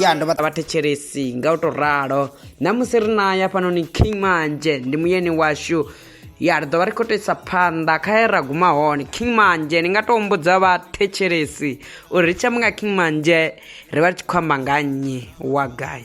ya ndo vha vhathetshelesi nga u tou ralo namusi ri na ya fhanoni king manzhe ndi muyeni washu ya ri ḓovha ri khou toisa phanḓa kha ye ra guma hone king manzhe ndi nga tou humbudza vhathetshelesi uri ri tshi amba nga king manzhe ri vha ri tshi khou amba nga nnyi wa gai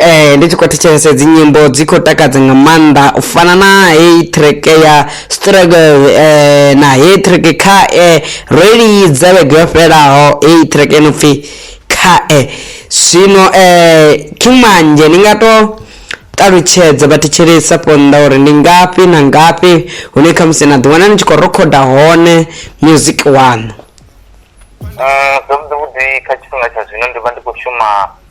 Eh, ndi tshi khou thetshelesa dzi nyimbo dzi khou takadza nga maanḓa u fana na heyi track ya struggle eh, na heyi track kha eh, ro i lidza vhege yo fhelaho heyi track ino pfhi kha eh. zwino eh, king manje ni nga to ṱalutshedza vhathetshelesa ponḓa uri ndi ngafhi na ngafhi hune khamusi na ḓiwana ni tshi khou rokhoda hone music waṋu Ah, zwavhuḓi vhuḓi kha tshifhinga tsha zwino ndi vha ndi khou shuma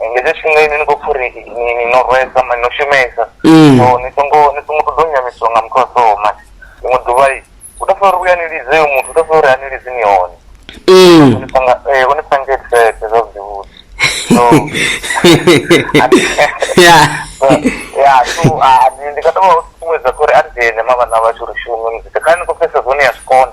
nga hetsho tshifhinga ini ni khou pfa uri ni- ni no rwesa mani no shumesa Mm. so ni songo ni songo ṱoḓa u nyamisiwa nga muthu a soho mani ḽiṅwe ḓuvha i u tou funa uri vhuya ni lidze uyo muthu u tou funa uri a ni lidzi ni hone Mm. Hone sanga eh hone sanga etsete zwa zwivhuḓi so Yeah. ya so ah, ndi- ndi nga tou vha ṱuṱuwedza kha uri a dzhene mavhana vhashu ri shume muzika kha ni khou pfhesesa zwone ya zwikona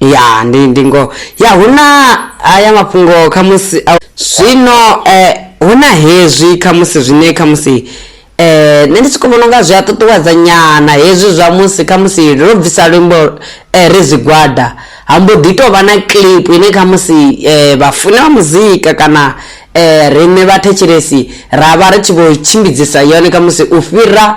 ya ndi ndi ngoho ya hu na haya mafhungo khamusi a- zwino eh, hu na hezwi khamusi zwine khamusi eh, nṋe ndi tshi khou vhona unga zwi a ṱuṱuwedza nyana hezwi zwa musi khamusi ro bvisa luimbo eh, ri zwigwada ha mbo ḓi tou vha na clip ine khamusi eh, vhafuni vha muzika kana eh, riṋe vhathetshelesi ra vha ri tshi vho tshimbidzisa yone khamusi u fhira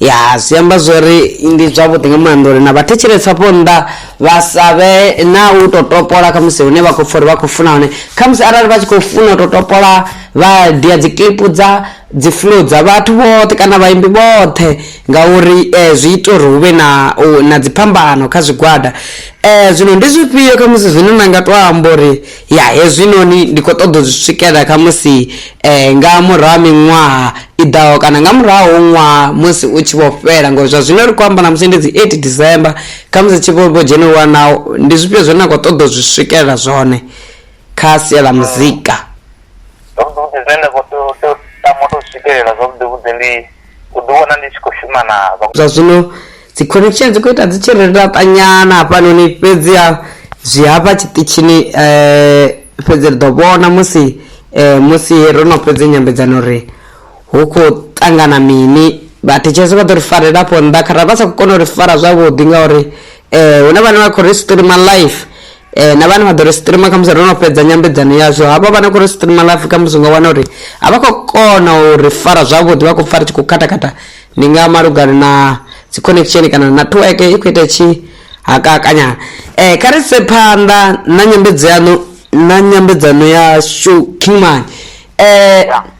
ya zwi amba zwori ndi zwavhuḓi nga maanḓa uri na vhathetshelesi afho nnḓa vha sa vhe na u to topola khamusi hune vha khou pfa uri vha khou funa hone khamusi arali vha tshi khou funa u to topola vha dia dzi klipu dza dzi fulo dza vhathu vhoṱhe kana vhaimbi vhoṱhe ngauri um zwi ita uri hu vhe na na dziphambano kha zwigwada um zwino ndi zwifhio khamusi zwine na nga to amba uri Ya hezwinoni ndi khou ṱoḓa u zwi swikelela khamusi nga murahu ha miṅwaha i ḓaho kana nga murahu ha ṅwaha musi u tshi vho fhela ngori zwa zwino ri khou amba ṋamusi ndi dzi eight December khamusi tshi vho vho dzhena wana ndi zwifhio zwine na khou ṱoḓa u zwi swikelela zwone kha sia ḽa muzika. Zwavhuḓi vhuḓi zwine nda khou tea u tea u tama u tou swikelela zwavhuḓi vhuḓi ndi. u ḓi wana ndi tshi khou shuma na vha. Zwa zwino dzi connection dzi khou ita dzi tshi ri laṱanyana hafhanoni fhedzi ha zwi hafha tshiṱitshini um fhedzi ri ḓo vhona musi um musi ro no fhedza nyambedzano uri hu khou ṱangana mini vhathetshelesi vha ḓo ri farela afho nnḓa kharali vha sa khou kona u ri fara zwavhuḓi ngauri um hune vhane vha khou ri streamer life um na vhane vha ḓo ri streamer khamusi ro no fhedza nyambedzano yazwo havha vhane khou ri streamer life khamusi nga wana uri a vha khou kona u ri fara zwavhuḓi vha khou pfa ri tshi khou khathakhatha ndi nga malugana na dzi connection kana na network i khou ita tshi hakakanyana um kha ri se phanḓa na nyambedzano na nyambedzano yashu kingman um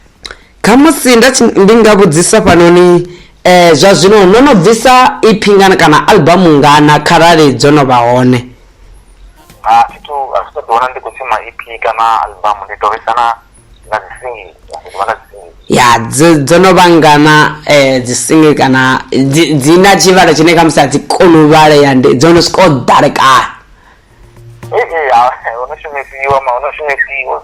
Khamusi nda ndi nga vhudzisa fhanoni zwa zwino no no bvisa iphi ngana kana album ngana kharali dzo no vha hone. A thi thu a thi thu ḓi wana ndi khou shuma EP kana album ndi to vhesa na na dzi single ndi ḓivha na dzi single. Ya dzo dzo no vha ngana dzi single kana dzi dzi na tshivhalo tshine khamusi a dzi koni u vhalea ndi dzo no swika u ḓalekana. Ee ya ho no shumisiwa ma ho no shumisiwa.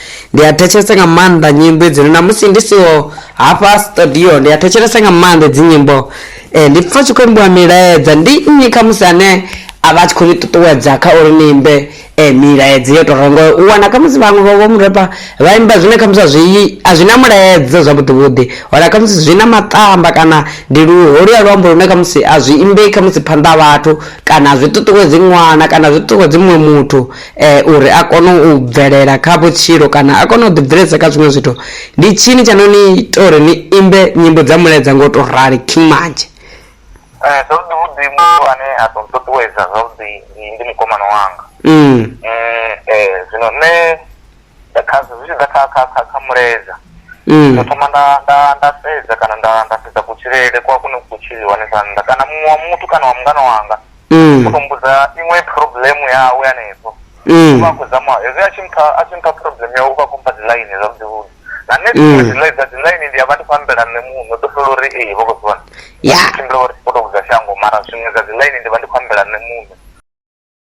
ndi a thetshelesa nga maanḓa nyimbo idzino na musi ndi siho hafha studio ndi a thetshelesa nga maanḓa dzi nyimbo e, ndi pfa tshi khou imbiwa milaedza ndi nnyi kha musi ane a vha a tshi khou ni ṱuṱuwedza kha uri ni imbe e, milaedza yo tora ngo u wana kha musi vhaṅwe vha vho murepa vha imba zwine kha musi a zwi a zwi na mulaedza zwavhuḓivhuḓi wana kha musi zwi na maṱamba kana ndi luholuya luambo lune kha musi a zwi imbei kha musi phanḓa ha vhathu kana a zwi ṱuṱuwedzi ṅwana kana a zwi ṱuṱuwedzi muṅwe muthu uri a kone u bvelela kha vhutshilo kana a kone u ḓibveledzisa kha zwiṅwe zwithu ndi tshini tsha no ni ita uri ni imbe nyimbo dza mulaedza nga u to rali king manzhe Eh, zwavhuḓi vhuḓi muthu ane a ḓo ṱuṱuwedza zwavhuḓi ndi ndi mukomana wanga Mm. Mm, eh, zwino nṋe nda kha zwi tshi ḓa kha kha kha kha muleza Mm. ndo thoma nda nda nda sedza kana nda nda sedza kutshilele kwa kune ku tshiliwa hanefha nnḓa kana muṅwe wa muthu kana wa mungana wanga Mm. u to mbudza iṅwe problem yawe hanefho Mm. uvha a khou zama hezwi a tshi mpha a tshi mpha problem yawe uvha a khou mpha dzi line zwavhuḓi vhuḓi na nṋe Mm. dziṅwe dzi line dza dzi line ndi a vha ndi khou ambela nṋe muṋe ḓo fhela uri ee vho khou zwi vhona Ya. tshimbila uri u to vhudza shango mara zwiṅwe dza dzi line ndi vha ndi khou ambela nṋe muṋe